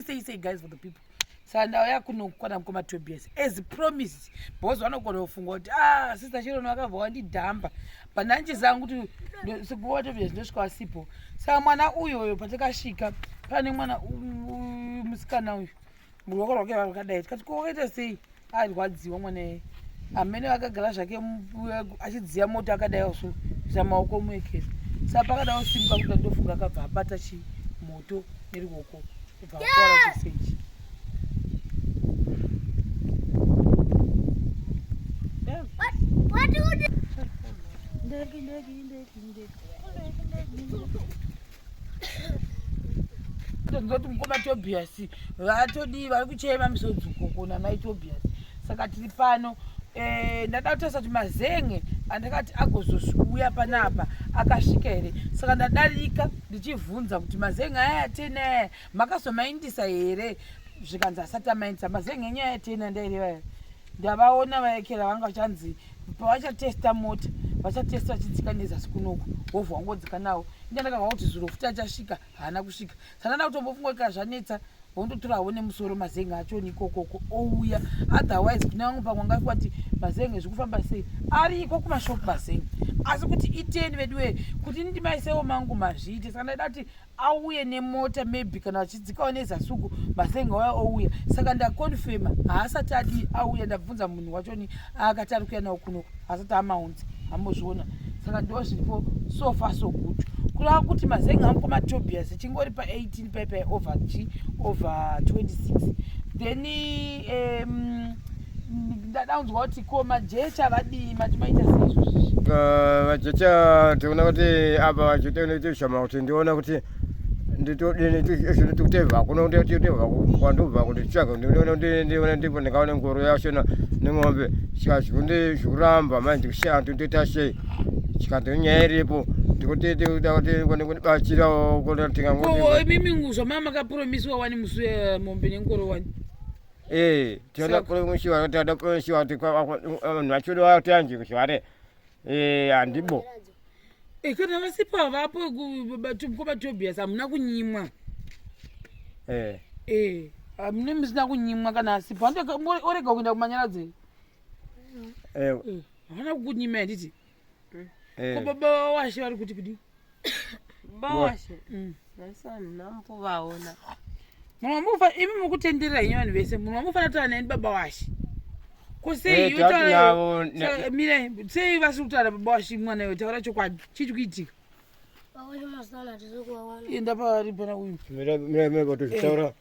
say say guys for the people saka ndauya kunokwana mukoma tobias as promise because vanogona kufunga kuti ah sister chirono vakabva wandidhamba but ndandichiziva kuti sekuma tobias ndosvika wasipo saka mwana uyo uyo patakasvika pane mwana musikana uyu ruoko rwake vakadai tikati ko wakaita sei arwadziwa mwana yeye amene akagara zvake achidziya moto akadaiwa so kuita maoko muekera sa pakadaiwa simuka kuda ndofunga akabva abata chi moto neruoko kubva akora chisechi tozoti mukoma tobias vatodii vari kuchema misodzuko namai tobias saka tiri pano eh, ndada kutarisa kuti mazenge andakati agozosviuya panapa akasvika here saka ndadarika ndichivhunza kuti mazenge aya atena aya makazomaindisa here zvikanzi asati amaindisa mazenge enyaya atena ndaireva here ndavaona vayekera vanga vachanzi pavachatesta mota vachatesta vachidzika nezasi kunoku wovha wangodzika nawo inda ndakava kuti zviro futi achasvika haana kusvika saka nda kutombofunga kaa zvanetsa vondotora havo nemusoro mazenge achoni ikokoko ouya otherwise kune vamwe pamwe ngafi wati mazenge zviri kufamba sei ari iko kumashop mazenge asi kuti iteni veduwee kuti ndimaisewo mangu mazviite saka ndaida kuti auye nemota maybe kana vachidzikawo nezasuku masenga waya ouya saka ndakonfema haasati adii auya ndabvunza munhu wachoni aakati ari kuya nawo kuno haasati amaunzi hambozviona saka ndo zviripo so far so good kurava kuti mazenga angu kwamatobias chingori pa18 paipai over g over 26 then um, ndadaunzwa kuti ko majecha vadii mati maita seizvozvi uh, vajecha tiona kuti apa vachitaona kuti shama kuti ndiona kuti nditotevha kuno nditotevha kwandobva kuti tsvaga ndinoona kuti ndiona ndipo ndingaona ngoro yashona neng'ombe saka zvikundi zvikuramba manje ndikushaya ndinotoita sei chikanzi nyaya iripo ndikutitikuda kuti kone kundibatsirawo kuti tingango imimi zvamama makapromiswa wani musi wemombe nengoro wani Eh, tinoda kuremushiwa kuti tinoda kuremushiwa kuti vanhu vachiuda vati anzi zvare eh, handibo eh, kana vasipa vapo kwabatobias hamuna kunyimwa eh. eh, hamune musina kunyimwa kana asipa orega kuenda kumanyaradzei havana kukunyima yanditi ko baba vawashe vari kuti kudii bawashe mm. naisanhambo vaona munhu wamufa imi mukutenderera henyu vanhu vese munhu wamufanira kutaura neni baba washe ko sei eh, mire sei vasiri kutaura baba washe mwana iwe taura chokwadi chii chikuitika enda paari pana uyu eh.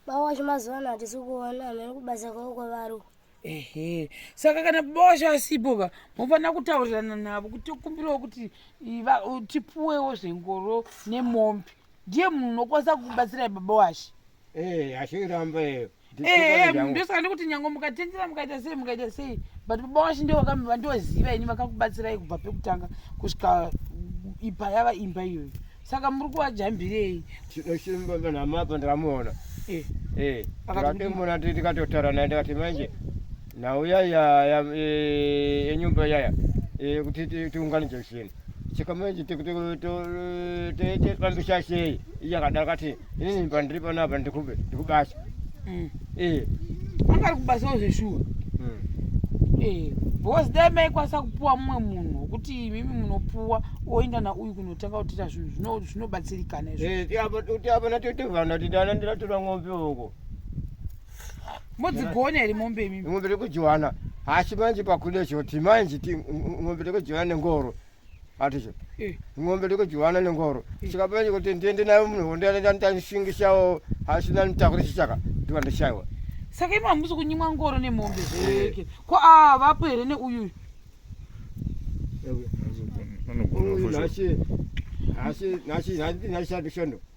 Baba wacho mazuva ano hatisi kuona hameno kubasa kwavo kwavari uko. ehe saka kana baba wacho asipo ba mofanira kutaurirana navo kuti tokumbirawo kuti i- va- u- tipuwewo zvengoro nemombe ndiye munhu unokwanisa kukubatsirai baba washe Eh, hachiramba iyo. ehe munhu ndosaka ndikuti nyange mukatendera mukaita sei mukaita sei but baba washe ndivo vakamba vandoziva ini vakakubatsirai kubva pekutanga kusvika ipa yava imba iyoyo saka muri kuvajambirei tinosimbanamapa ndikamuona eh. eh, akatimona tikatotara naye ndikati manje nhau yaya yenyumba yaya kuti tiunganidze zvinhu saka manje tofambisa sei iyakadaro kati Ini pandiri pano apa ndikube ndikubasa. Mm. Eh. Anga ari kubasa ozveshuwa. Mm. Eh. Because dai maikwanisa kupuwa mumwe munhu wekuti imimi munopuwa oenda nauyu kunotanga kutiita zvinhu zvinobatsirikana izvo. Eh, tiapo tiapo na titovana titana ndira tura ng'ombe uko. Modzigona here mombe imimi? Ng'ombe rekujiwana. Haasi manje pakude choti manje ti ng'ombe rekujiwana nengoro. aticho eh. ng'ombe ndikudyiwana nengoro eh. chikapenya kuti ndiende nayo munhondo yandanishingishawo hasina nitakure chichaka ndiva ndishaiwa saka imi hamusi kunyimwa ngoro nemombe zveeke eh. ko aa vapo here neuyuyu nashadishondo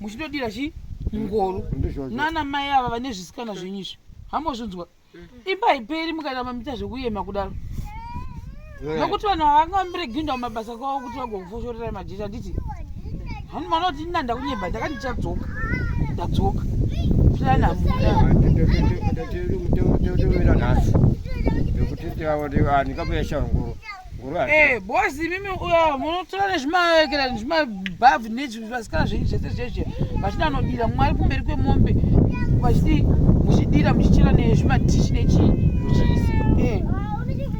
muchindodira chii ngoro nana mai ava vane zvisikana zvenyu izvi hamozvinzwa imba haiperi mukaita mamita zvekuyema kudaro nokuti vanhu vavanga vamireginda mumabasa kwavo kuti vagokufoshorera majecha handiti hanu mwana kuti nina ndakunyeba ndakati ndichadzoka ndadzoka plan hamunaandikabuya shanguro Eh, boss imimi uyo munotora nezvimaekera nezvimabhavhu nezvivasikana zvenyu zvese zveshe vachida anodira mwari kumberi kwemombe vachiti muchidira muchichera nezvimatishi nechii muchiisi eh,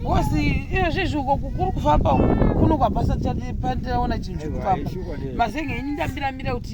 boss iyo zvezvi uko kuri kufamba kuno kwabasa tiraona chinhu chiri kufamba mazenga ini ndambiramira kuti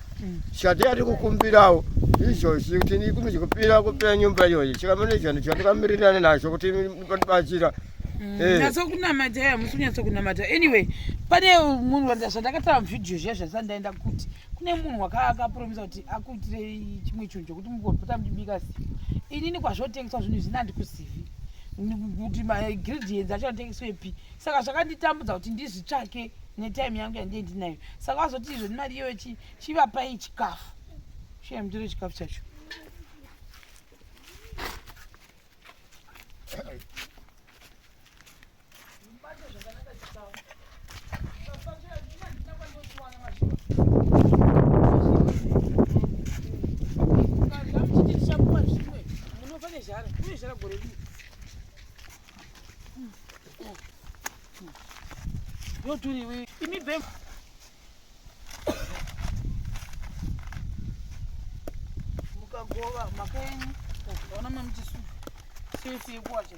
chatiyati kukumbirawo izvozvi kuti ndikumi chikupira kupira nyumba iyoyi chikamane chani chandikamirirane nazvo kuti ndibatsira mm, eh. nyatso kunamata ya musi kunyatso kunamata anyway pane munhu wanda zvandakatava muvhidhiyo zviya zvasandaenda kuti kune munhu wakaakapromisa kuti akuitire chimwe chinhu chokuti mugopota mudibika zivi inini kwazvotengeswa zvinhu zvina ndikuzivi kuti magredients acho anotengeswepi saka zvakanditambudza kuti ndizvitsvake netime yangu yandie ndinayo saka wazoti izvo nemari iyoyo chivapai chikafu shaya mutore chikafu chacho yoturiwe imi bem mukagova mhaka yenyu ona mamuchisu sesi yekuwacha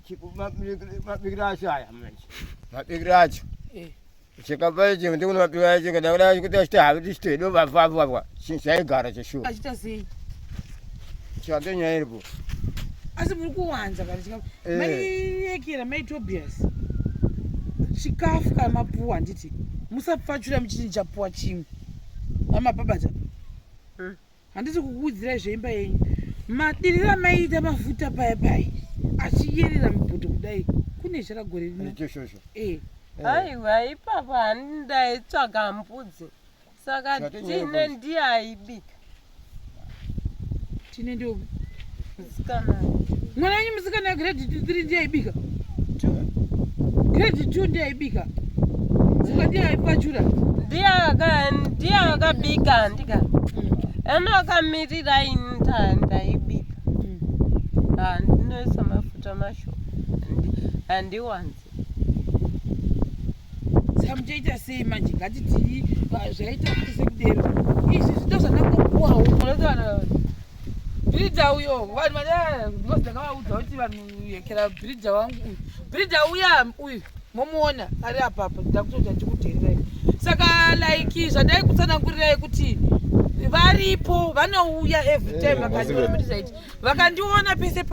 mabikiro acho aya manje mabikiro acho eh. chikapa ichi ndikuno mabikiro acho kada kuda kuti achiti havi tichiti hedo vavavavwa chaigara cheshuwa achita sei chake nyaya iripo asi muri kuwanza kana chikafu eh. maiyekera mai tobias chikafu kana mapuwa handiti musapfachura muchiti ndichapuwa chimwe amapabata hmm. handisi kukuudzirai zveimba yenyu madiri ramaiita mafuta paya paya achiyerera mubhodho kudai kune chara gore rino eh. aiwa ipapa handaitsvaga mbudzi saka tine ndiaibika tine ndiobi mwana wenyu musikana grade two three ndiye aibika grade two ndiye aibika zuka ndiye aipachura ndiye akabika ndika ena mm. akamirira ini ndaibika mm. ah, ndinoisa mafuta masho andiwanzi zvamuchaita sei manje ngatitii zvaita kuti sekudero izvi zvito zvandangopuwawo unotoana bridha uyo vanhu vana because ndakavaudza kuti vanhu yekera bridha wangu uyu bridha uya uyu momuona ari apapa ndakutoita ndikudherirai saka like zvandai kutsanangurirai kuti varipo vanouya every time vakati vakandiona pese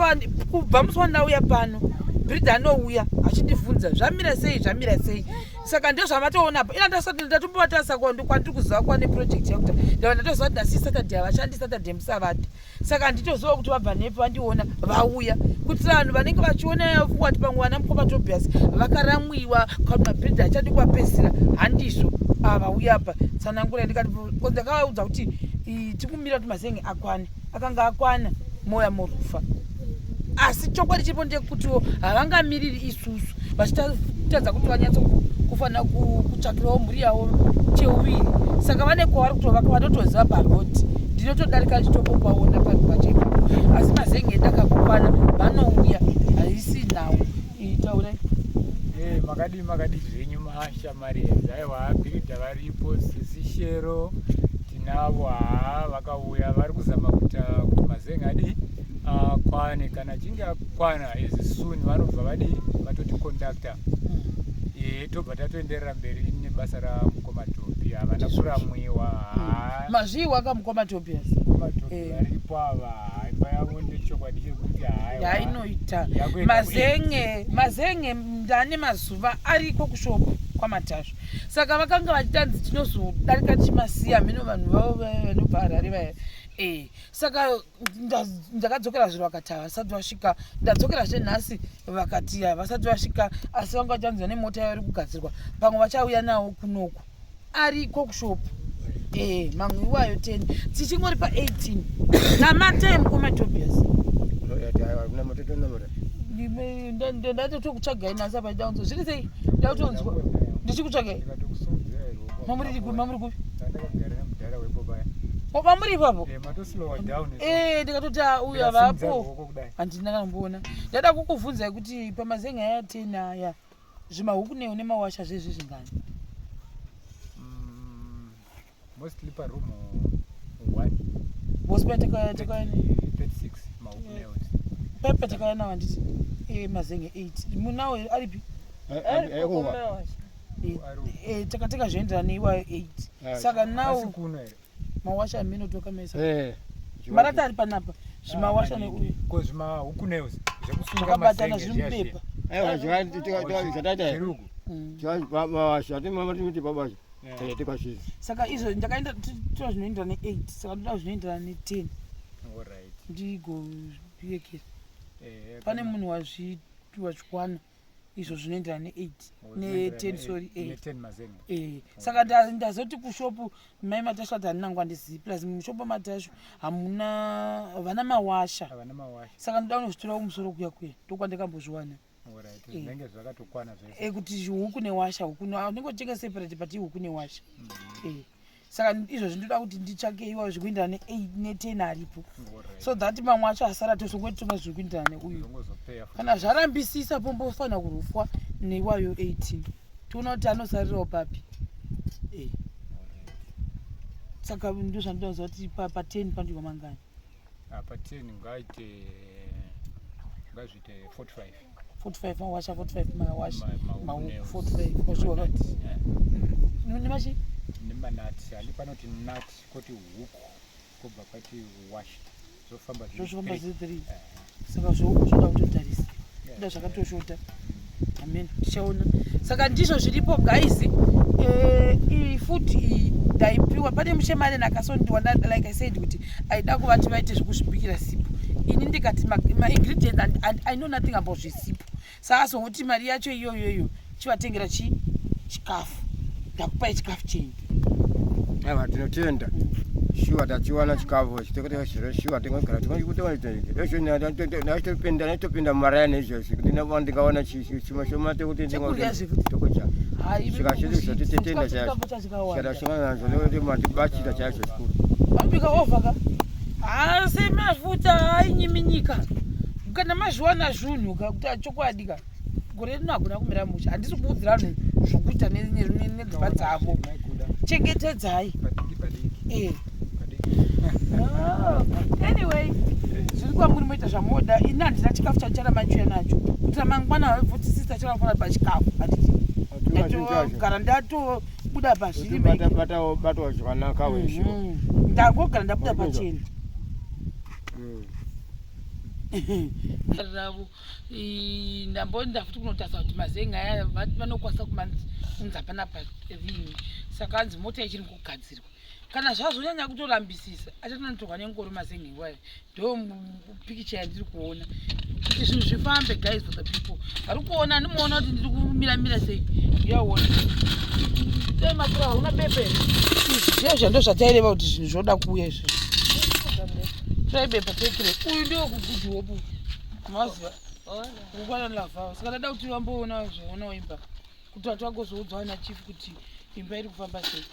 kubva musi wandauya pano brida anouya achindivhunza zvamira sei zvamira sei saka ndo zvamatoona apa ina ndasati ndatombovatasa kwandiri kuziva kwane project yakuta ndava ndatoziva kuti nasi saturday havashandi saturday musavati saka handitoziva kuti vabva nepi vandiona vauya kuti vanhu vanenge vachiona wati pamwe vana mukoma tobias vakaramwiwa kuti mabrida achadi kuvapesira handizvo ava ah, uya apa tsanangura ndikati ndakavaudza kuti tikumira kuti mazenge akwane akanga akwana moya morufa asi chokwadi chiripo ndekutiwo havangamiriri isusu vachitadza kuti vanyatso kufanira kutsvakirawo mhuri yavo cheuviri saka vane kwavari kutovaka vanotoziva paroti ndinotodarika ndichitokopaona panhu pachepo asi mazenge ndakakokwana vanouya haisi nhau itaura eh, makadii makadii zvenyu mahasha Marienzi aiwa bhiridha varipo sisi shero tinavo haa vakauya vari kuzama kuita kuti mazenga adii akwane ah, kana achinge akwana as soon vanobva vadii vatoti conductor ee eh, tobva tatoenderera mberi nebasa ramukoma tobi havana kuramwiwa haa hmm. mazviiwa ka mukoma tobi asi mukoma tobi eh. varipo ava imba yavo ndechokwadi chekuti haa yainoita mazenge mazenge ndane mazuva ariko kushopu kwamatasva saka vakanga vachitanzi tinozodarika tichimasiya hameno vanhu vavo vanobva harare vaya e saka ndakadzokera zviro vakati havasati vasvika ndadzokera zve nhasi vakati havasati vasvika asi vanga vachanzi vane mota yavari kugadzirwa pamwe vachauya nawo kunoku ariko kushop eh mamwe iwayo 10 tichingori pa 18 namatai mukoma tobias ndatotokutsvagai nasa paidaunzo zviri sei ndautonzwa ndichikutsvagai mamuri kupi mamuri kupi kwamuri ipapo eh, ndikatoti auya vapo handina kanomboona ndada kukubvunzai kuti pamazenga aya 10 aya zvimahuku ne une mawasha zvezvi zvingani mm, mostly pa room one boss pa teka teka 36 mahuku ne one pepe teka na wanditi e mazenge 8 munawo aripi eh, eh, eh, oh, eh teka teka zvoenderana ne iwayo 8 saka nawo mawasha amino toka mesa eh marata ari panapa zvimawasha ah, neuyu ko zvima huku nails zvekusunga masenga zvimupepa aiwa zvati tikataura zvataita chirugu mm. zvabasha timama timiti babasha eh. tikashiza saka izvo ndakaenda tira zvinoenderana ne8 saka ndoda zvinoenderana ne10 ndigozviyekera eh, pane munhu wazvichikwana wa izvo zvinoenderana ne8 ne10 sorry eh saka ndazoti kushopu mai matashu ati handina nguva ndizivi plus mushopu matashu hamuna vana mawasha saka ndoda kunozvitora kumusoro kuya kuya ndokwandikambozviwana eh, kuti huku newasha huku unenge uchitenga separate but ihuku newasha mm-hmm. eh saka izvozvi ndoda kuti nditsvake iwayo zviri kuindira neten aripo so that mamwe acho asara tosongoti tonga zviri kuindira neuyu kana zvarambisisa pombofanira kurufwa neiwayo 18 tiona kuti anosarirawo papi eh. saka ndo zvandoda kuziva kuti paten pandiwa mangani ah, paten ngaite ngazviite 45 45 mawasha 45 mawasha ma45 ozviona nemachi nemanati ali panoti nati koti huku kobva kwati washa zvofamba zvofamba zvi 3 saka zvohuku zvoda kutotarisa nda zvakatoshota amen tichaona saka ndizvo zviripo guys eh, iyi futi iyi ndaipiwa pane muchemareni akasondiwa like i said kuti aida kuvati vaite zvekuzvibikira sipo ini ndikati maingredients and, and i know nothing about zvesipo saasongoti mari yacho iyoyoyo chivatengera chi chikafu ndakupai chikafu chenyu aiwa tinotenda shuwa tachiwana chikafu chitokoteka chiro shuwa tingogara tingokutoaitopinda naitopinda mumaraya neizvozvi kuti ndingawana chimwe chomate kuti ndingotokocha svikazvizvo titenda chacho Shadashana nazo nekuti matibachira chaizvo chikuru. Mabika over ka? Asi mafuta hainyiminyika. Kana mazviwana zvunhu ka kuti achokwadi ka. Gore rino hagona kumira musha. Handisi kuudzira vanhu zvokuita nedzimba dzavo. Chengetedzai. Eh. anyway zviri kwamuri moita zvamoda ini handina chikafu chachara machuya nacho kuita mangwana vaibvuti sista chakafana pachikafu atitogara ndatobuda pazviribatwa zvakanaka wesho mm-hmm. ndangogara ndabuda pachena mm. ravo ndamboenda futi kunotarisa kuti mazenga aya vanokwanisa kumanzi kunzi hapana parini saka anzi mota ichiri kugadzirwa kana zvazonyanya kutorambisisa achatanotorwa nengoro mazenhewaya ndo pikicha yandiri kuona kuti zvinhu zvifambe guys for the people ari kuona andimuona kuti ndiri kumiramira sei yaona tematura hauna bepe izvizvo zvando zvataireva kuti zvinhu zvoda kuuya izvo taibepa tekire uyu ndiwo kugudhi hopu maziva ukwana lava saka ndada kuti vamboona zvaona waimba kuti vati vagozoudzwa ana chief kuti imba iri kufamba sei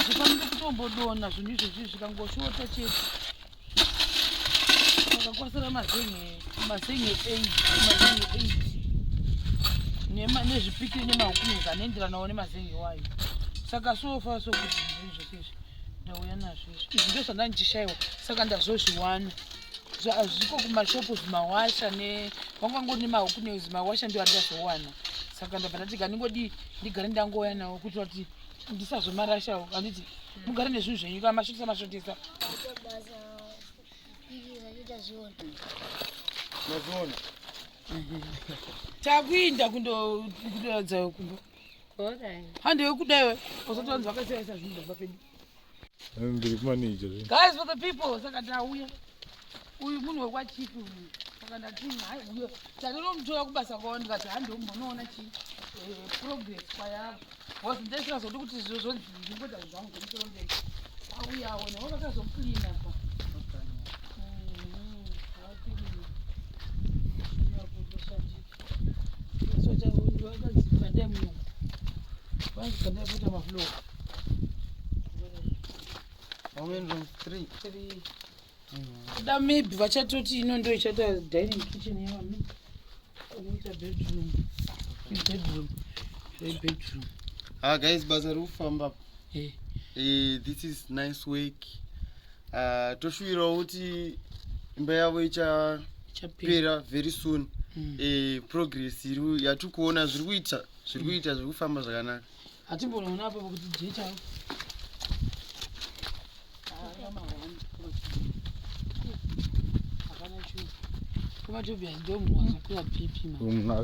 zvifanire kutombodona zvinhu izvezvi zvikangoshota chete akakwasira mazenge mazenge eight mazenge eight nezvipikiri nemahukumezi anoenderanawo nemazenge wayo saka sofa sokuti zvinhu zvese izvi ndauya nazvo izvi izvi ndozvandandichishayiwa saka ndazozviwana zviko kumashopu zvimawasha ne vangangori nemahuku ne zvimawasha ndio andazowana saka ndabva ndati kandingodii ndigare ndangouya nawo kuti vati ndisazomarashawo anditi hmm. mugare nezvinhu zvenyu ka mashotisa mashotisa mazviona takuinda kundoratidza kumba handewekudayo uzotonzi vakasiyaisa zvinhu zvabva pedu ndiri kumanija guys for the people saka ndauya uyu munhu wekwachipi uyu saka ndati hai uyo tatonomutora kubasa kwavo ndikati handi umonoona chi eh, progress kwayavo bcause ndesingazodi kuti zviro zvonzi ndingoda zvangu zvemusoro mberi auyawo navo vakazoklina pa kuda maybe vachatoti ino ndo ichata dining kitchen yevami oita bedroom bedroom bedroom ha ah, guys basa rikufamba hey. Eh. hey, eh, this is nice work uh, toshuwirawo kuti imba yavo ichapera very soon mm. e, progress iri yatiri kuona zviri kuita zviri kuita zviri kufamba zvakanaka hatimbonoona apo pakuti jecha kumatobi hazidomwazokuya pipi ma